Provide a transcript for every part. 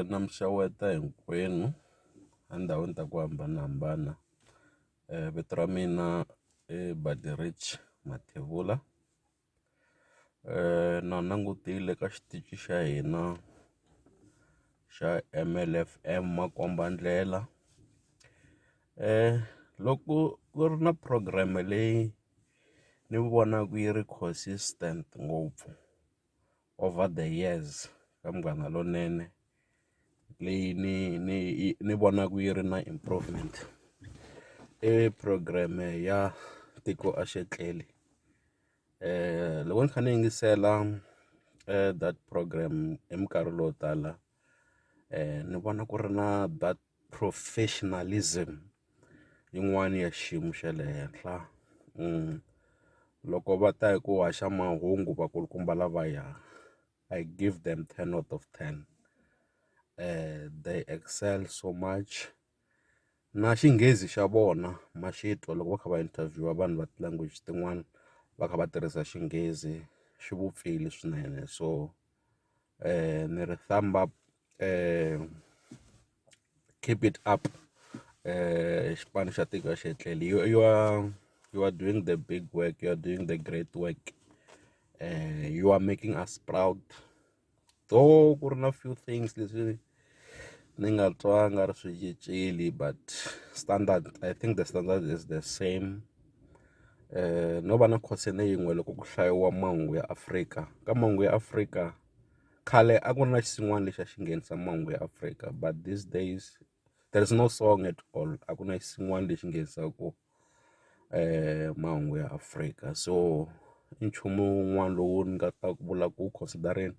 Na mi xeweta hinkwenu endhawini ta ku hambanahambana vito ra mina i Baderidge Mathebula na langutile ka xitichi xa hina xa M_L F_M makombandlela loko ku ri na program leyi ni vonaka yi ri consistent ngopfu. over the years ka Munghana Lonene leyi ni ni ni vonaka yi ri na improvement i program ya tiko a xi tleli loko ni kha ni yingisela that program hi minkarhi lowo tala. ni vona ku ri na that professionalism yin'wani ya xiyimo xa le henhla loko va ta hi ku haxa mahungu vakulukumba lavaya I give them ten out of ten they excel so much. na xinghezi xa vona ma xi twa loko va kha va interview vanhu va ti-language tin'wana va kha va tirhisa xinghezi swi vupfile swinene so ni ri thumb up keep it up xipano xa tiko a xi hetleli yo yo you are doing the big work you are doing the great work you are making us proud. though ku ri na few things leswi ni nga twa nga ri swi cincile but standard I think the standard is the same um no va na concern yin'we loko ku hlayiwa mahungu ya Afrika ka mahungu ya Afrika khale a ku ri na xin'wana lexi a xi nghenisa mahungu ya Afrika but these days. there is no song at all a ku na xin'wana lexi nghenisaka mahungu ya Afrika so i nchumu wun'wana lowu ni nga ta ku vula ku wu consider-eni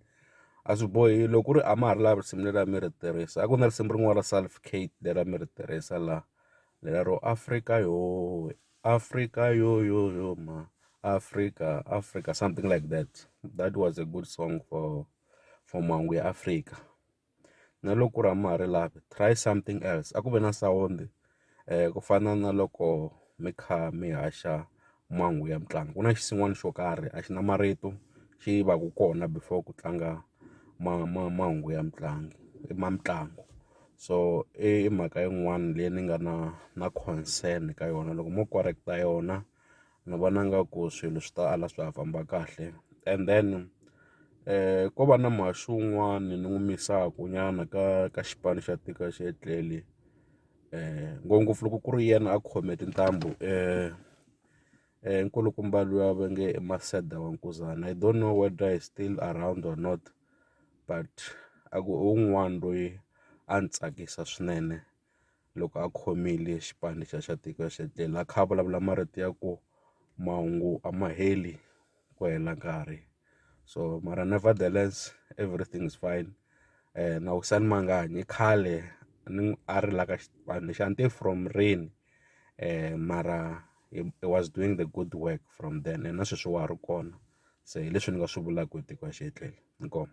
a swi bohi loko ku ri a ma ha ri laha risimu leri a mi ri tirhisa a ku na risimu rin'wana ra Salf Cat leri a mi ri tirhisa laha lero Afrika yoh Afrika yoh yoh yoh mhani Afrika Afrika something like that that was a good song for for mahungu ya Afrika. na loko ku ri a ma ha ri lavi try something else a ku ve na sawundi ku fana na loko mi kha mi haxa mhangu ya mitlangu ku na xinsin'wana xo karhi a xi na marito xi va ku kona before ku tlanga ma ma mahungu ya mitlangu i ma mitlangu so i mhaka yin'wani leyi ni nga na na concern ka yona loko mo correct-a yona. Ni vona nga ku swilo swi ta ala swa ha famba kahle and then ko va na mhani un'wani ni n'wi misaku nyana ka ka xipano xa tiko xi ya tlele ngopfungopfu loko ku ri yena a khome tintambu nkulukumba luya va nge i Maseda wa mukuzana I don't know whether he still around or not but a ku i wun'wani loyi a ni tsakisa swinene. loko a khomile xipano xa xa tiko xa tlhela a kha a vulavula marito ya ku mahungu a ma heli ku hela nkarhi so mara nevertheless everything is fine na Wissani Mangani i khale ni a ri la ka xipano lexi a ni tivi from rini mara he was doing the good work from then and na sweswi wa ha ri kona se hi leswi ni nga swi vulaka hi tiko xa xi hetlele inkomu.